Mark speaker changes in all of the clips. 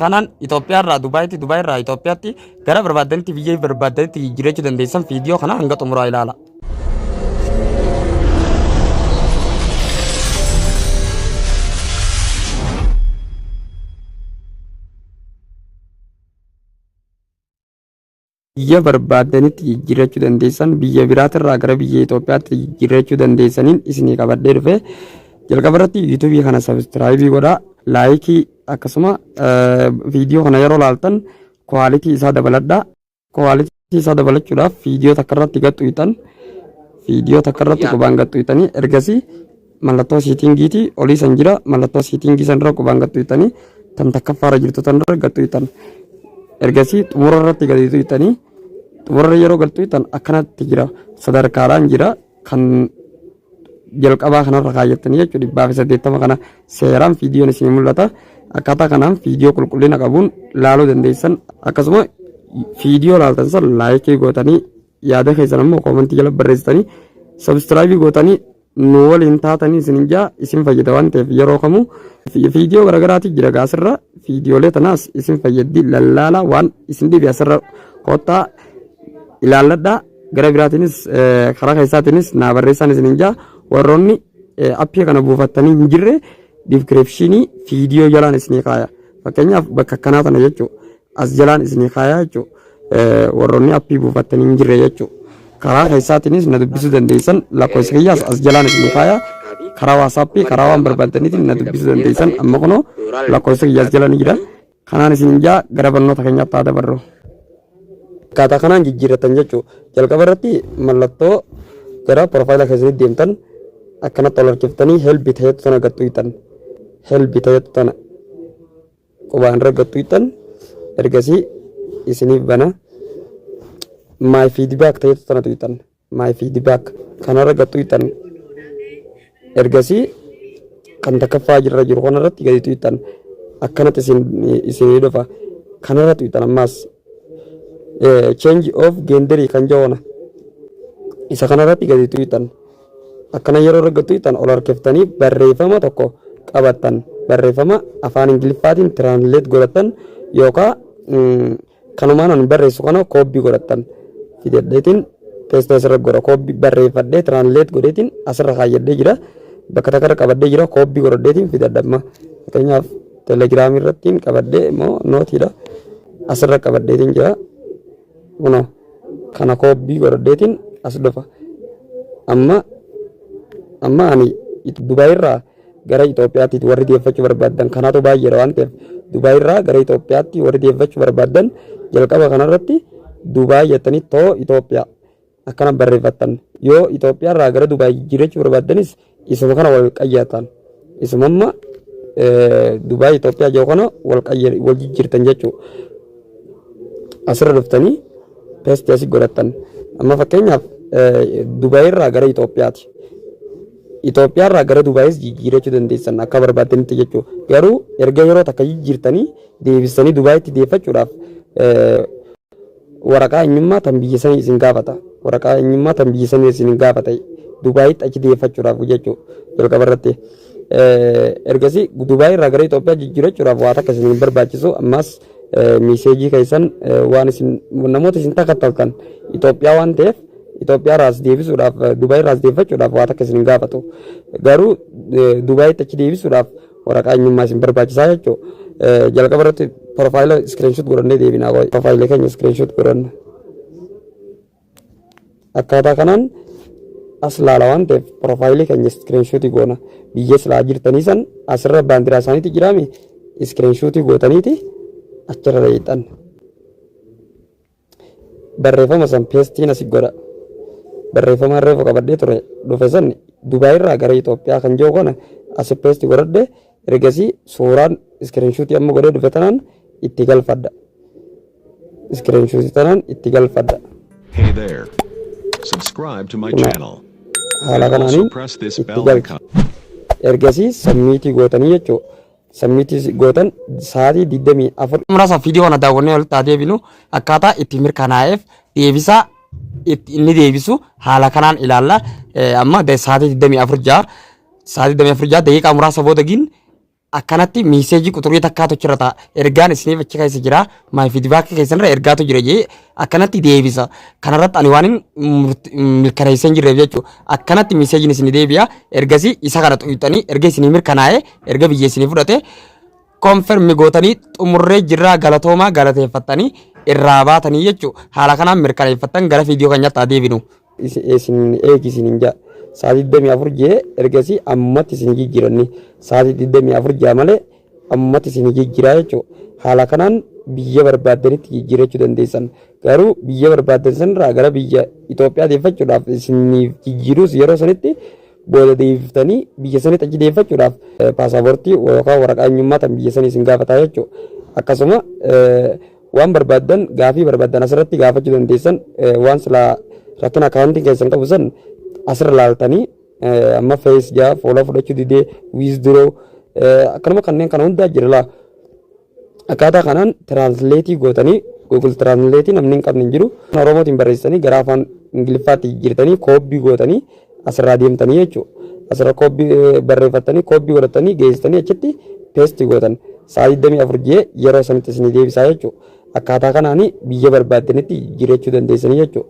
Speaker 1: Kanaan Itoophiyaa irraa Dubaayitti, Dubaay irraa Itoophiyaatti gara barbaaddanitti biyya barbaaddanitti jijjiirachuu dandeessan viidiyoo kana hanga xumuraa ilaala. biyya barbaaddanitti jijjiirrachuu dandeessan biyya biraatirraa gara biyya Itoophiyaatti jijjiirrachuu dandeessaniin isinii qabadhee dhufe jalqaba irratti yuutuubii kana sabiskiraayibii godha laayikii akkasuma viidiyoo kana yeroo laaltan kwaalitii isaa dabaladha kwaalitii isaa dabalachuudhaaf viidiyoo takka irratti gaxxuytan viidiyoo takka irratti qubaan gaxxuytanii ergasii Mallattoo siitingiiti olii san jira mallattoo siitingii san irra qubaan gattu hittanii tan takkaffaa irra jirtu tan irra gattu hittan ergasii xumura irratti gadiitu hittanii xumura irra yeroo galtu hittan akkanatti jira sadarkaadhaan jira kan jalqabaa kanarra kaayyattanii jechuudha dhibbaa fi saddeettama kana seeraan viidiyoon isin mul'ata akkaataa kanaan viidiyoo qulqullina qabuun laaluu dandeessan akkasuma viidiyoo laaltan san laayikii gootanii yaada keessan ammoo koomentii jala barreessitanii sabstiraayibii gootanii nu waliin taatanii isin hin jaa isin fayyada waan ta'eef yeroo kamuu viidiyoo garaagaraatii jira gaasirra viidiyoolee tanaas isin fayyaddi lallaala waan isin dhibe asirra koottaa ilaalladha gara biraatiinis eh, karaa keessaatiinis naa barreessaan isin hin jaa warroonni eh, appii kana buufattanii hin jirre diskiripshinii viidiyoo jalaan isinii kaaya fakkeenyaaf bakka akkanaa tana jechuudha As jalaan isinii kaayaa jechuun warroonni appii buufattan hin jirre jechuun karaa keessaatiinis na dubbisuu dandeessan lakkoofsa kiyyaas as jalaan isinii kaayaa karaa waasaappii karaa waan barbaadaniitiin na dubbisuu dandeessan amma kunoo lakkoofsa kiyyaas jala ni jira kanaan isin jaa gara barnoota keenyaatti haa dabarru. Akkaataa kanaan jijjiirratan jechuudha. Jalqaba irratti mallattoo gara profaayila keessanitti deemtan akkanatti ol harkiftanii helbi ta'etu sana gattu hitan. Helbi ta'etu sana qubaan raggattu ittan ergasii isiniif bana my feedback ta'etu tanatu ittan my feedback kana raggattu ittan ergasii kan takkaffaa jirra jiru kanarratti gaditu ittan akkanatti isin isinii dhufa kanarratti ittan ammaas eh, change of gender kan jawona isa kanarratti gaditu ittan akkana yeroo argattu tan ol harkiftanii barreeffama tokko qabattan barreeffama afaan ingiliffaatiin tiraansileet godhattan yookaan kanumaan ani barreessu kana koobbii godhattan fidadheetiin teessee asirra godha koobbii barreeffadhee tiraansileet godheetiin asirra kaayyadhee jira bakka takkarra qabadhee jira koobbii godhadheetiin fidadhamma fakkeenyaaf telegiraamii irrattiin qabadhee immoo nootiidha asirra qabadheetiin jira. Kunoo kana koobbii godhadheetiin as dhufa. Amma amma ani Dubaay irraa gara Itoophiyaatti warri deeffachuu barbaadan kanaatu baay'eedha waan ta'eef Dubaay irraa gara Itoophiyaatti warri deeffachuu barbaadan jalqaba kanarratti Dubaay jettanii too Itoophiyaa akkana barreeffattan yoo Itoophiyaa irraa gara Dubaay jijjiirrachuu barbaaddanis isuma kana wal qayyatan isumamma Dubaay Itoophiyaa jiru kana wal qayya- wal jijjiirtan jechuu asirra dhuftanii peestii asii godhattan amma fakkeenyaaf Dubaay irraa gara Itoophiyaati Itoophiyaa irraa gara Dubaayis jijjiirrachuu dandeessan akka barbaaddanitti jechuu garuu erga yeroo takka jijjiirtanii deebistanii Dubaayitti deeffachuudhaaf waraqaa eenyummaa tan biyya sanii isin gaafata waraqaa eenyummaa tan biyya sanii isin gaafata Dubaayitti achi deeffachuudhaaf jechuu jalqaba irratti ergasii Dubaayii irraa gara Itoophiyaa jijjiirachuudhaaf waa takka isin barbaachisu ammaas miiseejii keessan waan isin namoota isin takkattaltan Itoophiyaa waan ta'eef Itoophiyaa irraas deebisuudhaaf Dubaayii irraas deeffachuudhaaf waa takka isin gaafatu garuu Dubaayitti achi deebisuudhaaf waraqaa eenyummaa isin barbaachisaa jechuu jalqaba irratti profaayila iskiriinshuut godhannee deebinaa profaayila keenya iskiriinshuut godhanna akkaataa kanaan as laala waan ta'eef profaayilii keenya iskiriinshuutii goona biyya silaa jirtanii san asirra baandiraa isaaniitti jiraame iskiriinshuutii gootaniiti achirra hiixan Barreeffama san peestiin asi godha. Barreeffamaan reefu qabadhee ture dhufe san Dubaay irraa gara Itoophiyaa kan jiru kana asi peesti godhadhe ergasii suuraan iskiriinshuutii amma godhee dhufe tanaan itti galfadha. Iskiriinshuutii tanaan itti galfadha. Hey there.
Speaker 2: Subscribe to my Kunoo channel. haala And also kanaaniin
Speaker 1: press this itti bell galcha. icon. Ergasii sammiitii gootanii jechuudha. Sammiitti gootan sa'aatii 24. Muraasa viidiyoo kana daawwannee walitti haa deebinu akkaataa itti mirkanaa'eef deebisaa itti inni deebisu haala kanaan ilaalla. Eh, Amma da- sa'aatii 24 ja'a sa'aatii 24 ja'a daqiiqaa muraasa booda gin akkanatti miiseejii quxurii takkaatu achirra ta'a. Ergaan isiniif achi keessa jira. Maay fiidbaakii keessanirra ergaatu jira jee akkanatti deebisa. Kanarratti ani waan hin murt- mirkaneessee hin jirreef jechuudha. Akkanatti miiseejiin isinii deebi'a. Ergasii isa kana xuqxanii erga isinii mirkanaa'ee erga biyya isinii fudhate konfirmi gootanii xumurree jirraa galatoomaa galateeffattanii irraa baatanii jechuu haala kanaan mirkaneeffattan gara viidiyoo keenyatti haa deebinu. Isin isin eegi isin hin jaa. Sa'aatii 24 jee ergasii ammatti isin jijjiiranni. Sa'aatii 24 jaa malee ammatti isin jijjiiraa jechuudha. Haala kanaan biyya barbaaddanitti jijjiirachuu dandeessan. Garuu biyya barbaaddan sanirraa gara biyya Itoophiyaa deeffachuudhaaf isiniif jijjiiruus yeroo sanitti booda deebiftanii biyya sanitti achi deeffachuudhaaf paasaportii yookaan waraqaa eenyummaa tan biyya sanii isin gaafataa jechuudha. Akkasuma waan barbaaddan gaafii barbaaddan asirratti gaafachuu dandeessan waan silaa rakkina akaawuntii keessan qabu san asirra laaltanii amma fees jaa fuula fudhachuu didee wiizduroo akkanuma kanneen kana hundaa jira laa. Akkaataa kanaan tiraansileetii gootanii Google Translate namni hin qabne hin jiru. Afaan Oromootiin barreessitanii gara afaan Ingiliffaatti jijjiirtanii koobbii gootanii asirraa deemtanii jechuudha. Asirra koobbii eh, barreeffattanii koobbii godhattanii geessitanii achitti peesti gootan. Sa'a 24 ji'ee yeroo sanitti isinii deebisaa jechuudha. Akkaataa kanaan biyya barbaaddanitti jijjiirachuu dandeessanii jechuudha.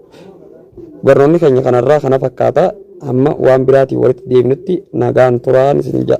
Speaker 1: Barnoonni keenya kanarraa kana fakkaata. Amma waan biraatiin walitti deebinutti nagaan turaan isin ja'a.